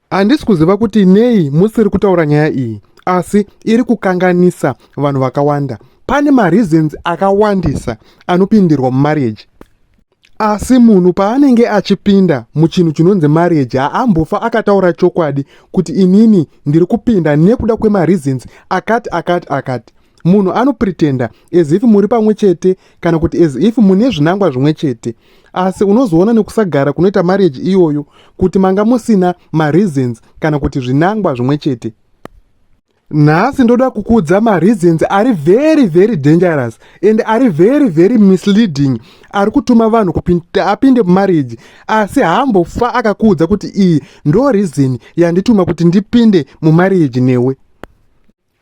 Handisi kuziva kuti nei musiri kutaura nyaya iyi, asi iri kukanganisa vanhu vakawanda. Pane mareasons akawandisa anopindirwa mumarriage. Asi munhu paanenge achipinda muchinhu chinonzi marriage haambofa akataura chokwadi kuti inini ndiri kupinda nekuda kwemareasons akati akati akati. munhu anopretenda as if muri pamwe chete kana kuti as if mune zvinangwa zvimwe chete asi unozoona nekusagara kunoita marriage iyoyo kuti manga musina mareasons kana kuti zvinangwa zvimwe chete nhasi ndoda kukuudza mareasons ari very very dangerous and ari very very misleading ari kutuma vanhu kupinda apinde mumarriage asi haambofa akakuudza kuti iyi ndo reason yandituma kuti ndipinde mumarriage newe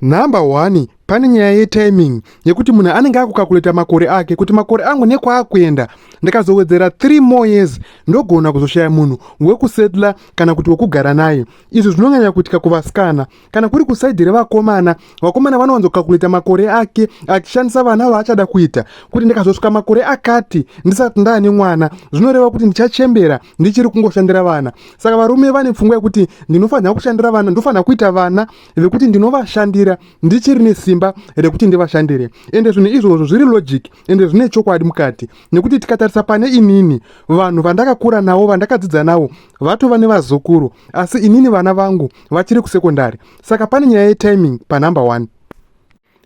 Number one, pane nyaya yetiming yekuti munhu anenge akukakuleta makore ake kuti makore angu nekwaakuenda ndikazowedzera three more years ndogona kuzoshaya munhu wekusetla kana kuti wekugara naye izvi zvinonyanya kuitika kuvasikana kana kuri kusaidhi revakomana vakomana vanowanzokakuleta makore ake achishandisa vana vaachada kuita kuti ndikazosvika makore akati ndisati ndaane mwana zvinoreva kuti ndichachembera ndichiri kungoshandira vana saka varume vane pfungwa yekuti ndinofanira kushandira vana ndofanira kuita vana vekuti ndinovashandira ndichiri nesimba rekuti ndivashandire ende zvinhu izvozvo zviri logic ende zvine chokwadi mukati nekuti tikatarisa pane inini vanhu vandakakura navo vandakadzidza navo vatova nevazukuru asi inini vana vangu vachiri kusekondari saka pane nyaya yetiming panumber one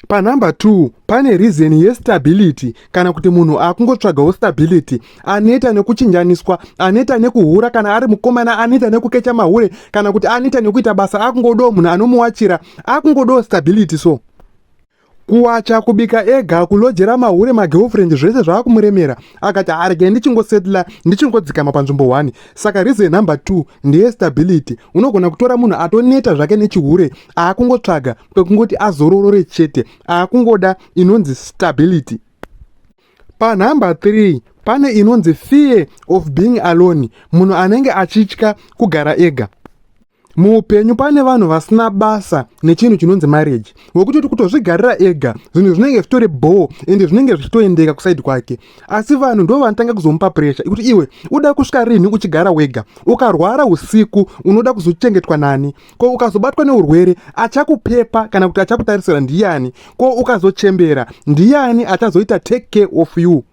panumber two pane reason yestability kana kuti munhu akungotsvagawo stability aneta nekuchinjaniswa aneta nekuhura kana ari mukomana aneta nekukecha mahure kana kuti aneta nekuita basa akungodawo munhu anomuwachira akungodawo stability so kuwacha kubika ega kulojera mahure magirlfriend zvese zvaakumuremera akati arege ndichingosetla ndichingodzikama panzvimbo one saka reason number two ndiye stability unogona kutora munhu atoneta zvake nechihure aakungotsvaga kwekungoti azororore chete aakungoda inonzi stability panhamba 3 pane inonzi fear of being alone munhu anenge achitya kugara ega muupenyu pane vanhu vasina basa nechinhu chinonzi marriage wekutoti kutozvigarira ega zvinhu zvinenge zvitori bhoo ende zvinenge zvichitoendeka kusaidi kwake asi vanhu ndo vanotanga kuzomupa puresha ikuti iwe uda kusvika rinhi uchigara wega ukarwara usiku unoda kuzochengetwa nani ko ukazobatwa neurwere achakupepa kana kuti achakutarisira ndiyani ko ukazochembera ndiyani achazoita take care of you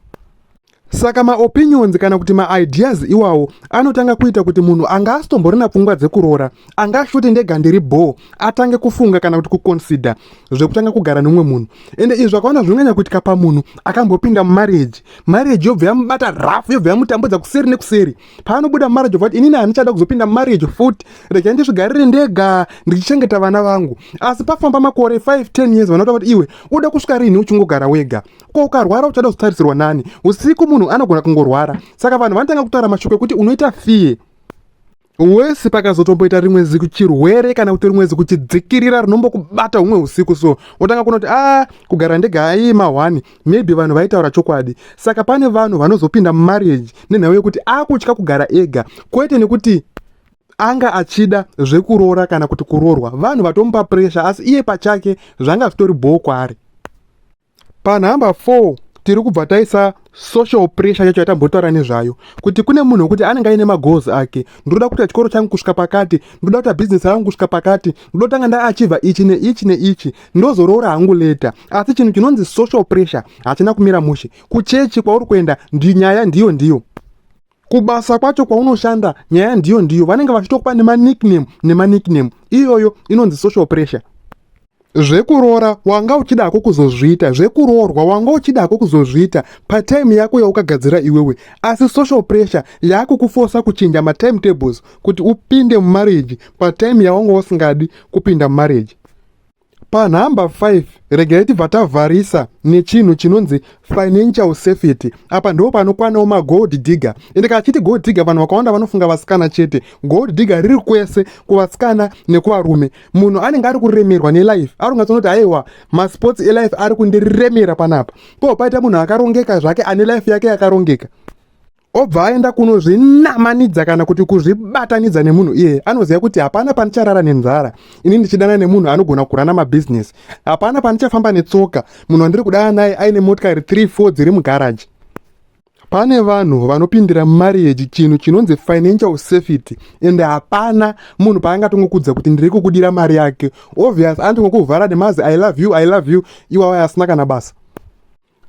saka maopinions kana kuti maideas iwawo anotanga kuita kuti munhu anga asitomborina pfungwa dzekuroora angashuti ndega ndiri bhoo atange kufunga kana kuti kuconsider zvekutanga kugara neumwe munhu ende izvi zvakaona zvinonyanya kuitika pamunhu akambopinda mumarriage marriage yobva yamubata rafu yobva yamutambudza kuseri nekuseri paanobuda mumarriage obva kuti inini handichada kuzopinda mumarriage futi regai ndizvigarire ndega ndichichengeta vana vangu asi pafamba makore 5 10 years vanoita kuti iwe uda kusvika rinhi uchingogara wega ko ukarwara uchada kuzotarisirwa nani usiku munhu anogona kungorwara saka vanhu vanotanga kutaura mashoko ekuti unoita fee wese pakazotomboita rimwe ziku chirwere kana kuti rimwe ziku chidzikirira rinombokubata humwe usiku so wotanga kunoti a ah, kugara ndega haii mahwani maybe vanhu vaitaura chokwadi saka pane vanhu vanozopinda mumarriage nenhau yekuti akutya kugara ega kwete nekuti anga achida zvekuroora kana kuti kuroorwa vanhu vatomupa puresha asi iye pachake zvanga zvitori bhoo kwaari Panhamba 4 tiri kubva taisa social pressure yacho yatambotaura nezvayo kuti kune munhu wekuti anenge aine magoals ake ndinoda kuita chikoro changu kusvika pakati ndinoda kuita bhizinesi rangu kusvika pakati ndinoda kutanga ndaachiva ichi neichi neichi ndozoroora hangu leta asi chinhu chinonzi social pressure hachina kumira mushe kuchechi kwauri kuenda ndinyaya ndiyo ndiyo kubasa kwacho kwaunoshanda nyaya ndiyo ndiyo vanenge vachitokupa nemanickname nemanickname iyoyo inonzi social pressure zvekuroora wanga uchidako kuzozviita zvekuroorwa wanga uchidako kuzozviita patime yako yaukagadzira iwewe asi social pressure yakukufosa kuchinja matime tables kuti upinde mumarriage patime yawanga usingadi kupinda mumarriage Panhamba 5 regai tibva tavharisa nechinhu chinonzi financial safety. Apa ndo panokwanawo magold digger ende kachiti gold digger vanhu vakawanda vanofunga vasikana chete. Gold digger riri kwese kuvasikana nekuvarume. Munhu anenge ari kuremerwa nelife aronga tonoti aiwa masports elife ari kundiremera panapa. Ko paita munhu akarongeka zvake ane life yake yakarongeka. obva aenda kunozvinamanidza kana kuti kuzvibatanidza nemunhu iye anoziva kuti hapana pandicharara nenzara ini ndichidana nemunhu anogona kurana mabhizinesi hapana pandichafamba netsoka munhu wandiri kudana naye aine motikari 3 4 dziri mugaraji pane vanhu vanopindira mariage chinhu chinonzi financial safety and hapana munhu paangatongokudza kuti ndiri kukudira mari yake obvious anotongokuvhara nemazi i love you i love you iwawa asina kana basa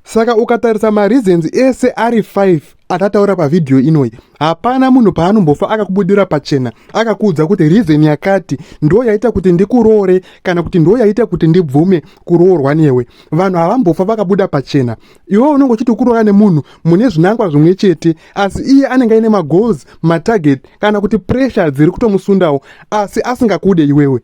Saka ukatarisa mareasons ese ari 5 atataura pavhidhiyo inoyi, hapana munhu paanombofa akakubudira pachena akakuudza kuti reason yakati ndo yaita kuti ndikuroore kana kuti ndo yaita kuti ndibvume kuroorwa newe. Vanhu havambofa vakabuda pachena. Iwe unenge uchiti ukuroora nemunhu mune zvinangwa zvimwe chete, asi iye anenge aine magoals, matarget kana kuti pressure dziri kutomusundawo asi asingakude iwewe.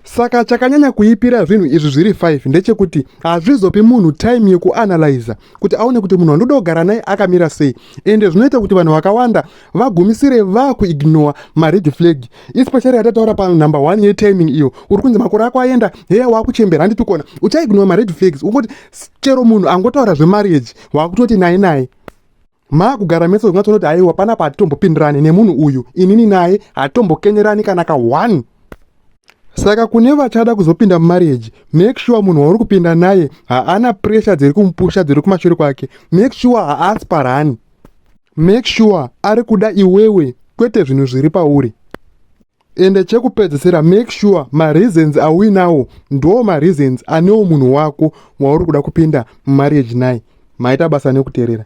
saka chakanyanya kuipira zvinhu izvi zviri 5 ndechekuti hazvizopi munhu time yekuanalyza kuti aone kuti munhu andoda kugara naye akamira sei ende zvinoita kuti vanhu vakawanda vagumisire vakuignore mared flag especially yatataura panumber 1 yetiming iyo uri kunzi makore ako aenda heya wakuchembera handiti kona uchaignore mared flags ungoti chero munhu angotaura zvemarriage wakutoti naye naye Ma kugara mese ungatonoti aiwa panapa hatitombopindirani nemunhu uyu inini naye hatitombokenyerani kana ka one saka kune vachada kuzopinda mumarriage make sure munhu wauri kupinda naye haana pressure dziri kumupusha dziri kumashure kwake make sure haasi parani make sure ari kuda iwewe kwete zvinhu zviri pauri ende chekupedzisira make sure mareasons auinawo ndoo mareasons anewo munhu wako wauri kuda kupinda mumarriage naye maita basa nekuterera